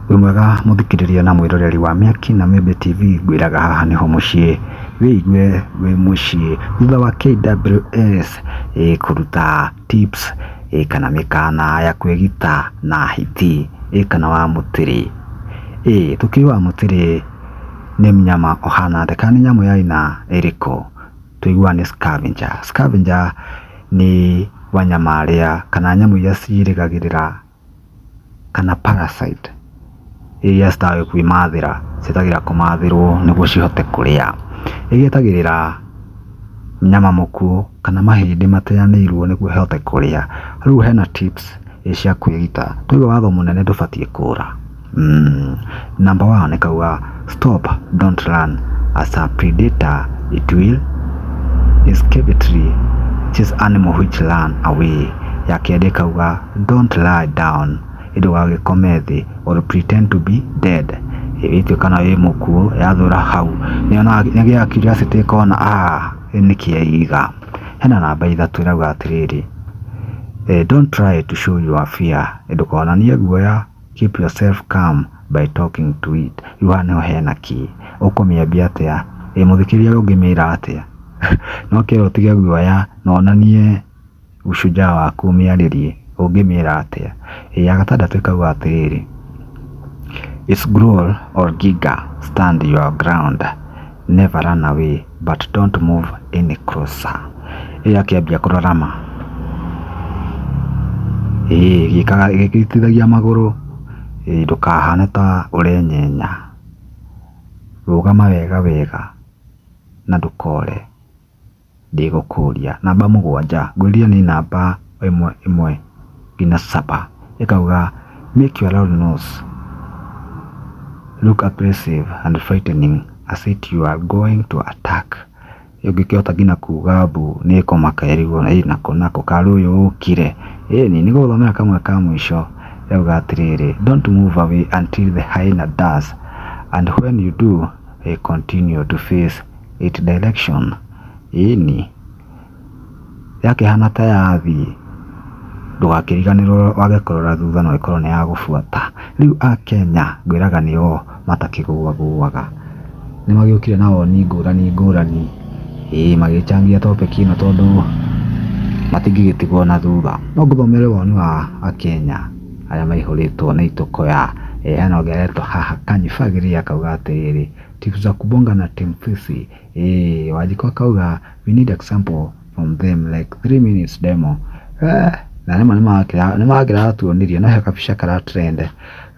Wĩ mwega mũthikĩrĩria na mwĩroreri wa Mĩaki na Mĩmbĩ TV ngwĩraga haha nĩho mũciĩ wĩigue wĩ mũciĩ thutha wa KWS eh, kũruta tips eh, kana mĩkana ya kwĩgita na hiti eh, kana wa mũtĩrĩ eh, tũkiuga wa mũtĩrĩ nĩ mnyama ũhana atĩa kana nĩ nyamũ ya aina ĩrĩkũ tũiguaga nĩ scavenger scavenger nĩ wanyama arĩa kana nyamũ iria cirĩgagĩrĩra kana parasite iria citowĩ kwĩmathĩra cietagĩrĩra kũmathĩrwo nĩguo cihote kũrĩa. Nĩ cietagĩrĩra nyama mũkuũ kana mahĩndĩ mateanĩirwo nĩguo cihote kũrĩa. Rĩu hena tips cia kwĩruta, tuge watho mũnene ndũbatiĩ kũra. Mm, number one kauga stop don't run as a predator it will escapatory chase animal which run away ya kerĩ kauga don't lie down ndũgagĩkome thĩ or pretend to be dead ĩtwe kana wĩ mũkuũ yathũra hau nĩgĩa curiosity ĩkona ah nĩ kĩaiga hena namba ithatũ ĩrauga atĩrĩrĩ eh, don't try to show your fear ndũkonanie guoya Keep yourself calm by talking to it. Rĩu haha nĩho hena kĩ. Ũkũmĩambia atĩa? Ĩ mũthikĩria ũyũ ũngĩmĩra atĩa? No kĩrĩa ũtige guoya na onanie ushujaa waku ũmĩarĩrie. Ũngĩmĩra atĩa? Ĩ ya gatandatũ ĩkauga atĩrĩrĩ, It's growl or giga, stand your ground, never run away. But don't move any closer. Ĩyo akĩambia kũrora ma. Ĩĩ gĩkaga gĩgĩtithagia magũrũ. Ĩĩ ndũkahane ta ũrenyenya. Rũgama wega wega na ndũkore. Ndĩgũkũria. Namba mũgwanja. Ngwĩrire nĩ namba ĩmwe ĩmwe. be na supper ĩkauga make your loud nose look aggressive and frightening as if you are going to attack ũngĩkĩhota nginya kuga mbu nĩ kũmaka ĩrigwo na ĩ nako nako karũyũ ũkire ĩni nĩ gũthomera kamwe ka mũico yauga atĩrĩrĩ don't move away until the hyena does and when you do eh, continue to face it direction ĩni yakĩhana ta yathiĩ ndũgakĩriganĩrwo wage kũrora thutha no ĩkorwo nĩ ya gũbuata. Rĩu Akenya ngwĩraga nĩo matakĩgũagũaga. Nĩ magĩũkire na woni ngũrani ngũrani, ĩĩ magĩchangia topic ĩno tondũ matingĩgĩtigwo na thutha. No ngũthomere woni wa Akenya arĩa maihũrĩtwo nĩ itũkũya. Hena ũngĩ aretwo haha Kanyifagĩria akauga atĩrĩrĩ, Timu za kubonga na Timu Fisi. Hey, wajiko kauga we need example from them like 3 minutes demo eh, na rĩmwe nĩmagĩra tuonirie no he kabica kara trend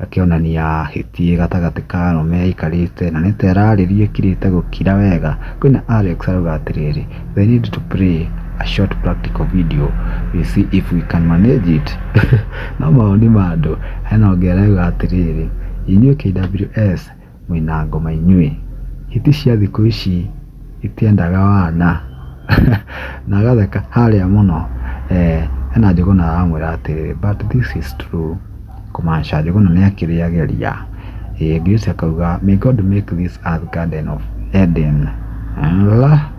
gakĩonania hĩtiĩ gatagatĩ ka arũme aikarĩte na nĩta ĩrarĩrie kirĩte gũkira wega kwĩna Alex arauga atĩrĩrĩ they need to play a short practical video we see if we can manage it no maoni ma andũ hena ũngĩ arauga atĩrĩrĩ inyuĩ KWS mũina ngoma inyuĩ. Hiti cia thikũ ici itiendaga wana na agatheka harĩa mũno hena Njũgũna aramwĩra atĩrĩrĩ but this is true kũmaanisha Njũgũna nĩ akĩrĩ ageria. Ngĩ ũcio akauga may God make this earth garden of Eden Allah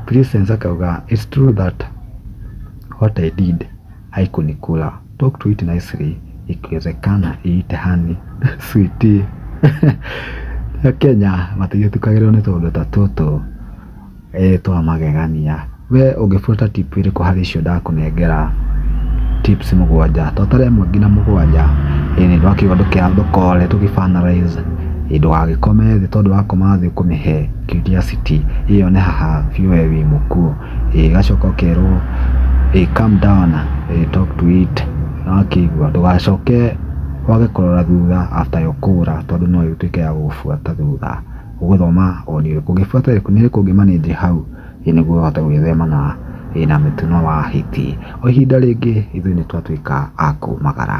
Christians akauga it's true that what I did. haikunikula. Talk to it nicely ikiwezekana iite hani sweetie. Kenya matigia tukagĩrĩrwo nĩ tũũndũ ta tũtũ eh, twa magegania. We ũngĩbuata tip ĩrĩkũ harĩ icio ndakũnengera tips mũgwanja twatara ĩmwe nginya mũgwanja ĩĩ nĩ ndwakiuga ndũkĩathũkore tũgĩbanalize ĩĩ ndũgagĩkome thĩ tondũ wakoma thĩ ũkũmĩhe curiosity ĩyone haha biũ we wĩ mũkuũ ĩĩ gacoka ũkerwo ĩĩ calm down ĩĩ talk to it nĩwakĩigua ndũgacoke wage kũrora thutha after yo kũra tondũ no ĩtuĩke ya gũgũbuata thutha ũgũthoma ũrĩa ĩrĩkũ ũngĩbuata ĩrĩkũ nĩ ĩrĩkũ ũngĩ manage hau ĩĩ nĩguo ũhote gwĩthema na ĩĩ na mĩtino wa hiti o ihinda rĩngĩ ithuĩ nĩtwatuĩka a kumagara.